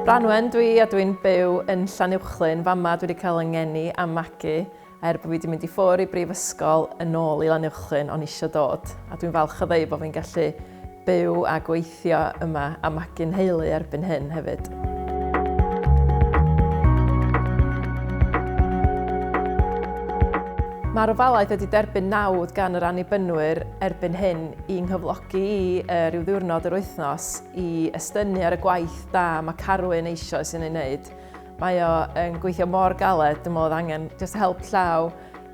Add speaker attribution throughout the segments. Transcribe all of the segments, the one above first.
Speaker 1: Branwen dwi a dwi'n byw yn Llanuwchlyn. Fama dwi wedi cael yngeni a magu er bod fi wedi mynd i ffwr i brifysgol yn ôl i Lanuwchlyn o'n eisiau dod a dwi'n falch o ddeu bod fi'n gallu byw a gweithio yma a magu nheulu erbyn hyn hefyd. Mae'r ofalaeth wedi derbyn nawdd gan yr annibynwyr erbyn hyn i nghyflogi i uh, rhyw ddiwrnod yr wythnos i estynu ar y gwaith da mae Carwyn eisoes yn ei wneud. Mae o yn gweithio mor galed, dwi'n meddwl angen just help llaw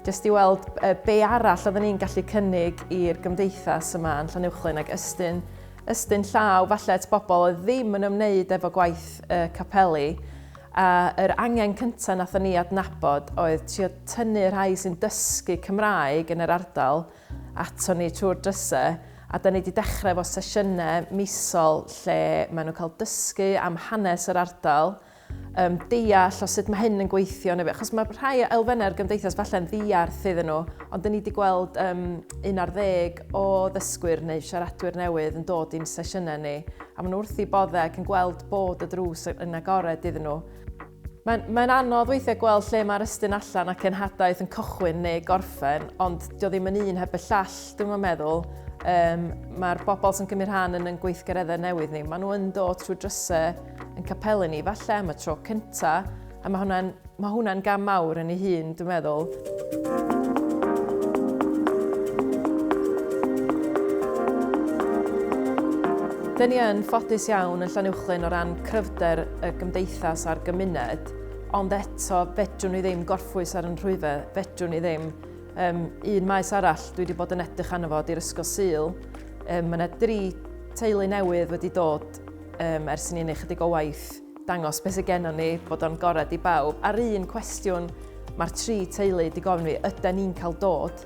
Speaker 1: jyst i weld be arall oedden ni'n gallu cynnig i'r gymdeithas yma yn Llanuwchllyn ac ystyn, ystyn llaw falle at bobl oedd ddim yn ymwneud efo gwaith y capeli. A yr angen cyntaf nathon ni adnabod oedd trio tynnu rhai sy'n dysgu Cymraeg yn yr ardal ato ni trwy'r dryse a da ni wedi dechrau efo sesiynau misol lle maen nhw'n cael dysgu am hanes yr ardal, um, deall o sut mae hyn yn gweithio, neu, achos mae rhai elfennau'r gymdeithas falle'n ddiarth iddyn nhw, ond dyn ni wedi gweld um, un ar ddeg o ddysgwyr neu siaradwyr newydd yn dod i'n sesiynau ni, a maen nhw wrth i boddau ac yn gweld bod y drws yn agored iddyn nhw. Mae'n mae anodd weithiau gweld lle mae'r ystyn allan ac enhadaeth yn cychwyn neu gorffen, ond dio ddim yn un heb y llall, dwi'n meddwl. Um, Mae'r bobl sy'n cymryd rhan yn yn gweithgareddau newydd ni, maen nhw'n dod trwy drysau yn capelu ni falle am y tro cynta, a mae hwnna'n ma hwnna gam mawr yn ei hun, dwi'n meddwl. Dyn ni yn ffodus iawn yn Llanuwchllyn o ran cryfder y gymdeithas a'r gymuned, ond eto fedrwn ni ddim gorffwys ar yn rhwyfe, fedrwn ni ddim um, un maes arall dwi wedi bod yn edrych arno fo di'r Ysgol Sul. Um, mae yna dri teulu newydd wedi dod um, ers ni'n ei chydig o waith dangos beth sydd gennym ni, bod o'n gorau di bawb. A'r un cwestiwn mae'r tri teulu di gofyn fi, ydy ni'n cael dod?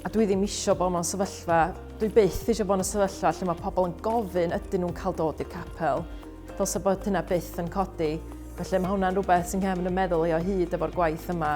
Speaker 1: A dwi ddim eisiau bod mewn sefyllfa, dwi byth eisiau bod yn sefyllfa lle mae pobl yn gofyn ydyn nhw'n cael dod i'r capel. Dylse bod hynna byth yn codi. Felly mae hwnna'n rhywbeth sy'n nghefn y meddwl i o hyd efo'r gwaith yma.